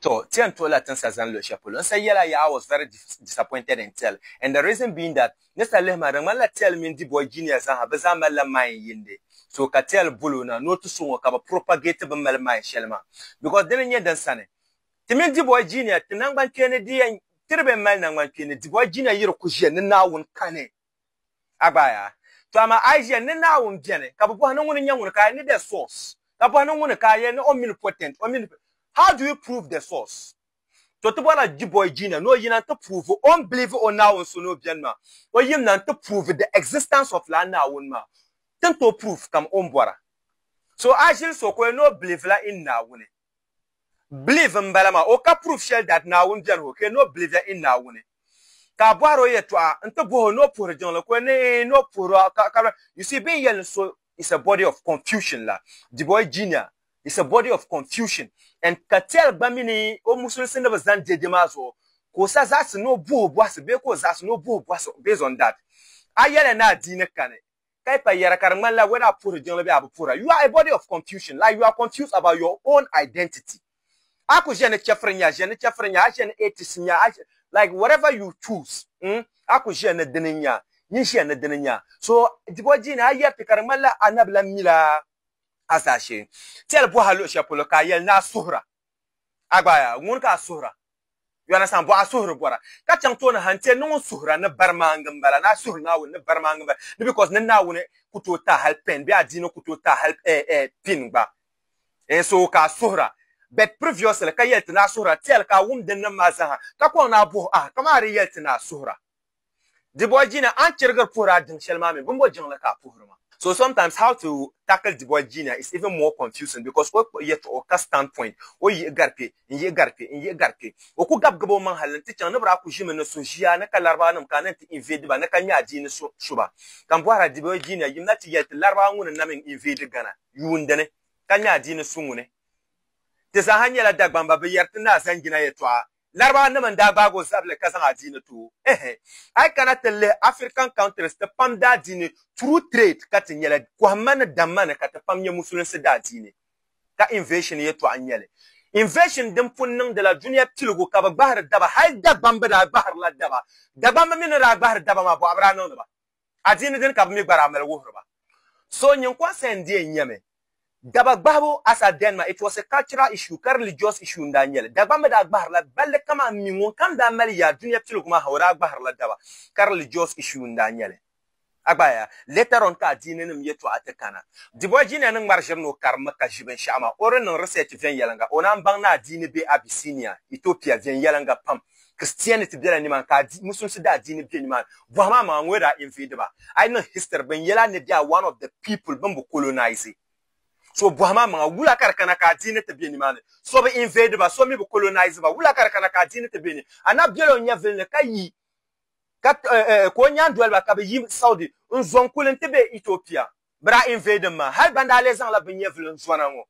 To, ti yɛn tuhi la tin sa zani luɣi shɛli polo. N sa yɛla yaha I was very disappointed in Tell and the reason being that ni sa lihi ma di ŋmani la Tell mini the boy Junior zaaha bɛ zaa mali la mind yindi so ka Tell bol o na ni o ti so ŋɔ ka bɛ propagate bɛ mali mind shɛli maa because dini n-nyɛ din sani ti mini the boy Junior ti nangbankpeeni di yɛn ti di bɛn mali nangbankpeeni the boy Junior yi di ku ʒiya ni Naawuni kani A gbaaya. To amaa a yi ʒiya ni Naawuni beni, ka bi bɔhi ni ŋuni n-nyɛ ŋuni ka a ni the source, ka bɔhi ni ŋuni ka a yɛli ni omnipotent, o mini, how do you prove the source? To ti bɔrila Dubois Jina ni o yina n-ti prove o ni believe o Naawuni so ni o beni maa, o yimina n-ti prove the existence of lala Naawuni maa, ti ni tooi prove kam o ni bɔra. So a ʒili so ka o yɛli ni o believe la in Naawuni. Believe n bala maa, o ka proof shɛli that Naawuni beni ho ka no believe in Naawuni. Ka a bɔhiri o yɛtɔɣa n ti bohi o ni o puhiri jiŋli ka o ni ni o puhiri o ka ka You see bɛ ni yɛli ni so is a body of confusion la, the boy junior is a body of confusion and ka tell gba mi ni o musulisi ni bi zani dede maa zuɣu ka o sa zaɣisi ni o bohi bɔhisi bee ka o zaɣisi ni o bohi bɔhisi based on that. A yɛli ni adiini kani ka yi pa yɛra ka di ŋmanila whether a puhiri jiŋli bee a bi puhira. You are a body of confusion, like you are confused about your own identity. A ku ʒiya ni chɛfuri n-nya, ʒiya ni chɛfuri n-nya, a ʒiya ni atheist n-nya, a ʒiya, like whatever you choose, mm, a ku ʒiya ni dini n-nya, nyin ʒiya ni dini n-nya. So, dibu o dii ni a yɛri ti ka di ŋmanila a na bi lan mila a zaashee. Tɛli bɔha luɣ shɛli polo ka a yɛli ni a suhira. Agbaaya, ŋun ka a suhira? Yɔnasan bɔh a suhiri bɔra, ka chaŋ tooni ha n-ti a ni ŋun suhira ni barimaaŋa m-bala, ni a suhiri Naawuni ni barimaaŋa m-bala, ni bikɔs ni Naawuni ku tooi taai hal pɛn bee adiini ku tooi taai hal pin gba n so ka a suhira. Bet previously ka yɛli ti ni a suhira, ti hal ka a wum din niŋ maa zaa ha, ka kɔŋ ni a buhi a, kaman a di yɛli ti ni a suhira. Dibɔjina, a ni chirigiri puhiri a diŋ shɛli maa mini bimbɔ jiŋli ka a puhiri ma? So sometimes how to tackle Dibɔjina is even more confusing because o kpuɣi yɛtɔɣɔ ka stand point o yihi gari kpe n yihi gari kpe n yihi gari kpe. O ku gabi gabi o maŋ hali n ti chaŋ ni biraku ʒimi ni suhu ʒiya ni ka Larabawa nim kana n ti invade ba ni ka nya adiini so su ba. Ka n bɔhira Dibɔjina yim na ti yɛli ti Larabawa ŋuni n na mi n invade Ghana yuundi ni ka nya adiini su ŋuni? Ti zaa ha nyɛla Dagbamba bi yɛri ti ni a zaŋ jina yɛtɔɣa Larabanim n daa gbaag o zabili ka zaŋ adiini ti o. Ehe! A yi kana ti lihi African countries ti pam daadiini through trade ka ti nyɛli, kɔhimma ni damma ni ka ti pam nyɛ musulinsi daadiini. Ka invasion yɛtɔɣa n-nyɛ li. Invasion din pun niŋdila dunia piligu ka bɛ gbahiri daba, hal Dagbamb daa gbahirila daba. Dagbamb mi ni daa gbahiri daba maa bɔɣu bi daa niŋdi ba. adiini dini ka bɛ mi gba daa mali wuhiri ba. So nyiŋkɔrisi n-deei nyɛmi. Daba gbahibu as at then maa, it was a cultural issue, ka religious issue n-daa nyɛ li. Dagbaŋ mi daa gbahirila balli kaman m mi ŋunkam daa mali yaa dunia piligu maa ha o daa gbahirila daba, ka religious issue n-daa nyɛ li. A gba a ya, later on ka adiininim yɛtɔɣa ti kana. Dibɔi Junior ni ŋmari ʒiri ni o karimmi ka ʒi binshɛɣu maa, o di niŋ research viɛnyɛliŋga, o naan baŋ ni adiini be Abyssinia, Ethiopia, viɛnyɛliŋga pam. Christianity bela nimaani ka Muslimsi daa diini be nimaani. Bɔhi maa maŋa ŋɔ daa invade ba. A yi niŋ history bɛ ni yɛli a ni they are one of the people bɛ ni bi colonize. So bɔhi maa maŋa wula ka di kana ka a diini ti be nimaani? So bi invade ba, so mi bi colonize ba. Wula ka di kana ka a diini ti be ni? A na bela o nyɛvili ni ka yi ka o nyaandoliba ka bɛ yi Saudi n-zo n-kuli nti be Ethiopia. Bɛ daa invade mi maa hali ban daa lee zaŋla bɛ nyɛvili n-zona ŋɔ.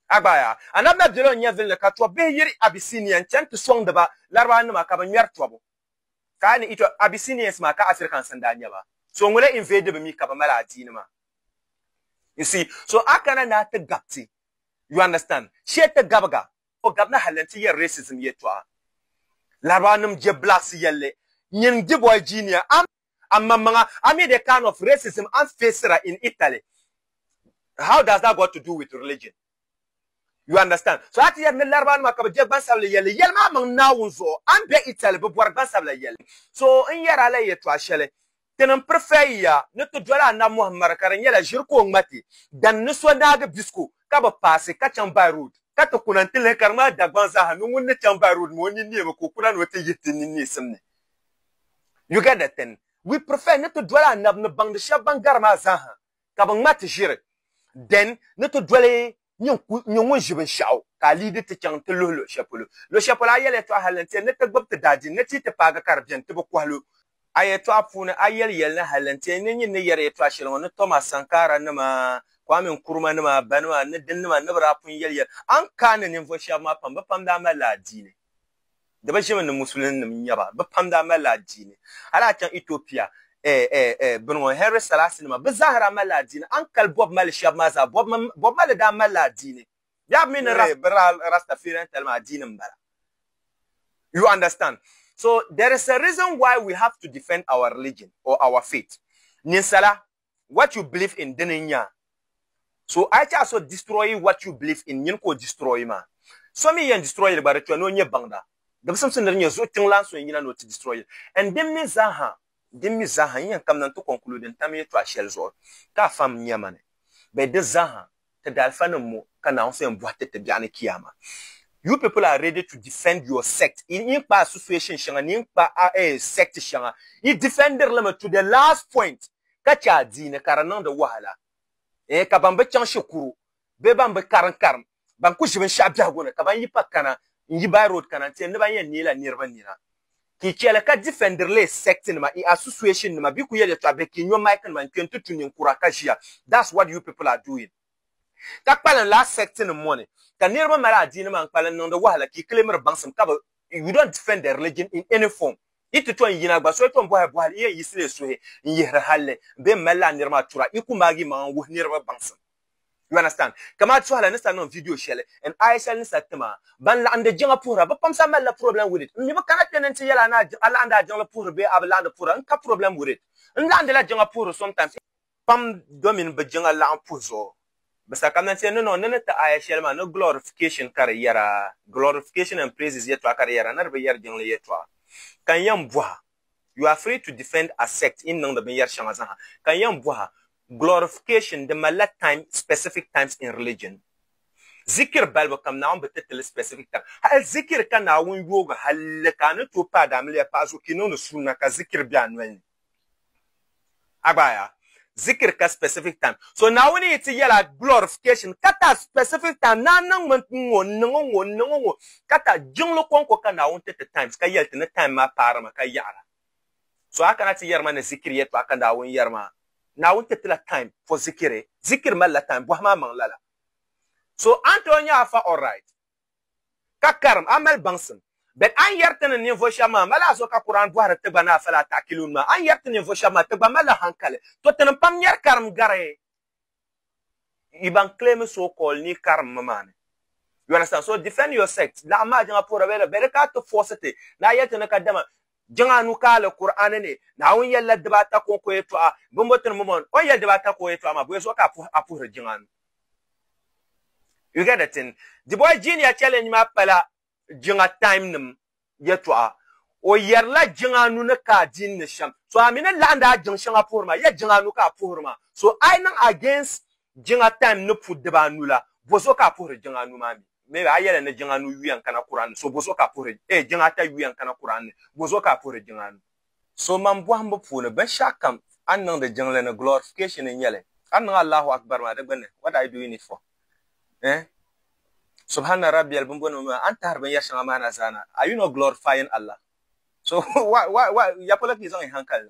A gbaaya, Anabi na bela o nyɛvilli ka tɔbbihi yiri Abyssinia n-chani ti sɔŋdi ba Larabaannima ka bɛ ŋmɛri tɔbu. Ka a ni yi tɔ, Abyssinians maa ka Africans n-daa nyɛ ba. So ŋuna invade bi mi ka bɛ mali adiini maa. You see? So a kana ni a ti gabi ti. You understand? Shee ti gabiga. O gabina hali nti yɛri racism yɛltɔɣa. Larabaannim je blacks yɛlli, Nyin gbiboy junior, a mi? Amaŋmaŋa, a mi the kind of racism an face-ra in Italy, how does that got to do with religion? You understand? So a ti yɛli ni Larabaanima ka bɛ je gbansabila yɛlli, yɛli maa maŋ Naawuni zuɣu. A ni be Italy, bɛ bɔri gbansabila yɛlli. So n yɛri a la yɛtɔɣ shɛli, Ti ni m-prefer yiya ni ti doli Anabi Muhammad ka di nyɛla ʒiri ka o ŋmati, than ni so naagi bisiko ka bi paasi ka chaŋ by road, ka ti kuna n-ti lihi ka di ŋmani Dagbaŋ zaaha ni ŋun ni chaŋ by road maa o nini neemi ka o kuna ni o ti yihi ti nini neesim ni. You get the thing? We prefer ni ti doli Anabi ni baŋdi shɛba ban gari maa zaa ha ka bɛ ŋmati ʒiri then ni ti doli nyini ŋun ʒi binshɛɣu ka a leadi ti chaŋ ti luhi luɣ'shɛli polo. Luɣ'shɛli polo a yɛliya tɔɣu hali n tiɛ ni ti gbubi ti daadiini ni ti yi ti paagi ka di beni ti bi kɔhi lu. A yɛtɔɣa puuni a yɛli yɛli ni hali n tiɛ ni nyini ni yɛri yɛtɔɣa shɛli ŋɔ ni Thomas Sankara nima, Kwame Nkrumah nima, Ba nima ni din nima ni bi daa pun yɛli yɛli a ni kaai ni ninvuɣ'shɛba maa pam bɛ pam daa mali la adiini. di bi ʒimi ni musulin nim n-nyɛ ba bɛ pam daa malila adiini hali a chaŋ Ethiopia bini ŋɔ Henry Selassie nima bɛ zaa daa malila adiini a ni kali Bob Marley shɛba maa zaa Bob Marley daa malila adiini bɛ mi ni Rastafarian talima adiini m-bala you understand so there is a reason why we have to defend our religion or our faith ninsala what you believe in dini n nya so a yɛcha so destroy what you believe in nyini ka o destroy maa so mi yɛn destroy li gba di tɔya ni o nyɛ baŋda gimsimsi ni di nyɛ zuɣu tiŋlan so n yina ni o ti destroy li and din mi zaaha din mi zaaha n yɛn kamina n ti conclude n tam yɛtɔɣa shɛli zuɣu ka a fam nya mani bɛ di zaaha ti di alifa nim ŋɔ ka Naawuni so yɛn bɔhi ti ti biɛɣu ni Kiyaama. You people are ready to defend your sect, yi ni kpa association shɛŋa ni yi ni kpa a eh sect shɛŋa yi defendiri li mi to the last point ka chɛ adiini ka di niŋdi wahala eh ka ban bi chaŋ shikuru bee ban bi karim karim ban ku ʒi binshɛɣu biɛhigu ni ka ban yi pa kana n yi by road kana n ti yɛn ni ban yɛn neei la niriba nina Ki cheli ka defender li sect nima in association nima bi ku yel yetɔɣa bihi ki nyo mic nima n kpe n ti tu ninkura ka ʒiya that's what you people are doing ka kpalim laa sect nim ŋɔ ni ka niriba mali adiini maa n kpalim niŋdi wahala ki kilimiri baŋsim ka bi you don't defend the religion in any form yi ti tom yina gba so yi tom bɔhi bɔhili yi yɛn yiɣisila yi suhi n yihiri halli bee m mali laa niri maa tura yi ku maagi yi maŋa n wuhi niriba baŋsim. You understand? Kama ti suhala ni sa niŋ video shɛli in ISL ni sa tima ban laɣindi jiŋa puhira bɛ pam sa malila problem with it. M mi bɛ kana kpe ni n-ti yɛl a ni a laɣindi a jiŋli puhiri bee a bi laɣindi puhira n-ka problem with it. N laɣindila jiŋa puhiri sometimes. Pam domin bɛ jiŋa laɣim puhi zuɣu bɛ sa ka man ti yɛn ni niŋ ni ni ti aya shɛli maa ni glorification ka di yɛra, glorification and praises yɛtɔɣa ka di yɛra ni di bi yɛri jiŋli yɛtɔɣa. Ka n yɛn bɔha You are free to defend a sect in niŋdi binyɛri shɛŋa zaha. Ka n yɛn bɔha, glorification di malila time, specific times in religion. Zikiri balibu kam Naawuni bi ti ti li specific time. Hal zikiri ka Naawuni yoogi halli ka a ni tooi paai daamiliya paɣa zuɣu ka i niŋdi sunna ka zikiri be a noli ni. Agbaya. Zikiri ka specific time. So Naawuni yi ti yɛla glorification ka ta specific time ni a niŋmi ŋ-ŋɔ n-niŋ ŋ-ŋɔ n-niŋ ŋ-ŋɔ ka ta jiŋli kɔŋko ka Naawuni ti ti times ka yɛli ti ni time maa paarimi ka yaɣira. So a kana ti yɛrima ni zikiri yɛtɔɣa ka Naawuni yɛrima. Naawuni ti tila time for zikiri. Zikiri malila time bɔhi maa maŋ lala. So a ni tooi nya a fa alright. ka karim a mali baŋsim. Bɛn a ni yɛri ti ni ninvuɣ shɛb maa mali a zuɣu ka Kur'an bɔhiri ti gba ni a fali a ta'akiluun maa, a ni yɛri ti ninvuɣ shɛb maa ti gba malila haŋkali. To tinim pam nyari karim gari yi ban claimi so call ni karim mi maa ni. You understand? So defend your sect, laɣim maa jiŋa puhira bɛ yɛla bɛ di ka a ti force ti ni a yɛli ti ni ka dama Jiŋ anu ka a li Kur'aani ni, Naawuni yɛlila diba ata ka o ko yɛtɔɣa, bimbo ti ni mom on? O ni yɛli diba ata ka o yɛtɔɣa maa, bɔya zuɣu ka a puhiri jiŋ anu? You get the thing? The boy Junior Challenge maa pala jiŋ atayim nim yɛtɔɣa. O yɛrila jiŋ anu ni ka a di n ni shɛm. So a mi ni laɣim di a jiŋ shɛŋa puhiri maa, yɛli jiŋ anu ka a puhiri maa. So a yi niŋ against jiŋ atayim ni puhi diba anu la, bɔ zuɣu ka a puhiri jiŋ anu maa mi? maybe a yɛli ni jiŋ anu yuya n kana Kur'an ni so bozuɣu ka a puhiri ee jiŋ ata yuya n kana Kur'an ni bozuɣu ka a puhiri jiŋ anu so man bɔhimbu puuni binshɛɣu kam a ni niŋdi jiŋli ni glorification n nyɛli a ni niŋ Allahu Akbar maa di gbunni what are you doing it for eh Subhana Rabbiya bimbonima maa a ni tahiri binyɛri shɛŋa maa na zaa na are you not glorifying Allah so why why why ya polo ka yi zaŋ yi hankali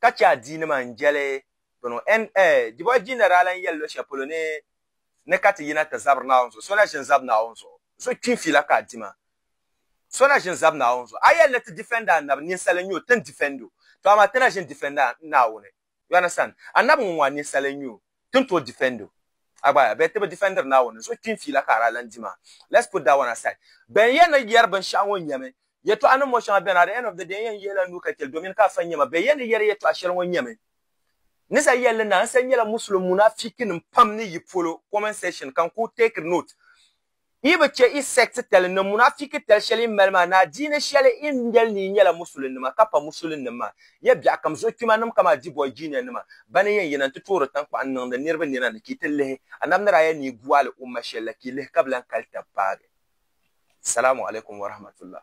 ka chɛ adiinima n-jɛli bɛ nuu. N, A Jibɔɣu Jiina daa lan yɛli luɣ shɛli polo ni ni ka ti yina ti zabiri Naawuni zuɣu, So na ʒini zabi Naawuni zuɣu, so kpi n-fila ka a di ma. So na ʒini zabi Naawuni zuɣu. A yɛli ni ti difɛndi Annabi, ninsal n-nyɛ o, ti ni difɛnd o, tɔ amaa ti na ʒini difɛndi Naawuni. You understand? Annabi ŋɔ ŋɔ a ninsal n-nyɛ o. ti ni tooi defend o a gba a bɛ ti bi defendiri Naawuni zuɣu kpini fiila ka a daa lan di maa let's put that one aside bɛn yɛn ni yɛri binshɛɣu ŋɔ nyɛmi yɛtɔɣa nim ŋɔ shɛŋa bɛni at the end of the day n yɛn yihila n nuu ka chɛli domin ka a fa nyɛma bɛ yɛn ni yɛri yɛtɔɣa shɛli ŋɔ nyɛmi ni sa yɛli li na n sa nyɛla Muslim munafikinim pam ni yi polo comment section ka n ku take note yi bi chɛ yi sect tali ni munafiki tali shɛli yi mali maa ni adiini shɛli yi ni yɛli ni yi nyɛla musulinima ka pa musulinnim maa, ya biɛɣukam zochwimanim kaman Dibɔi Jinianima bani yɛn yina nti toori taŋkpaɣu n-niŋdi niriba nina ni ka yi ti lihi Annabi ni daa yɛli ni yi guali umma shɛli la ka yi lihi ka bi lan kali tab paagi. Salamu alaikum warahmatullah.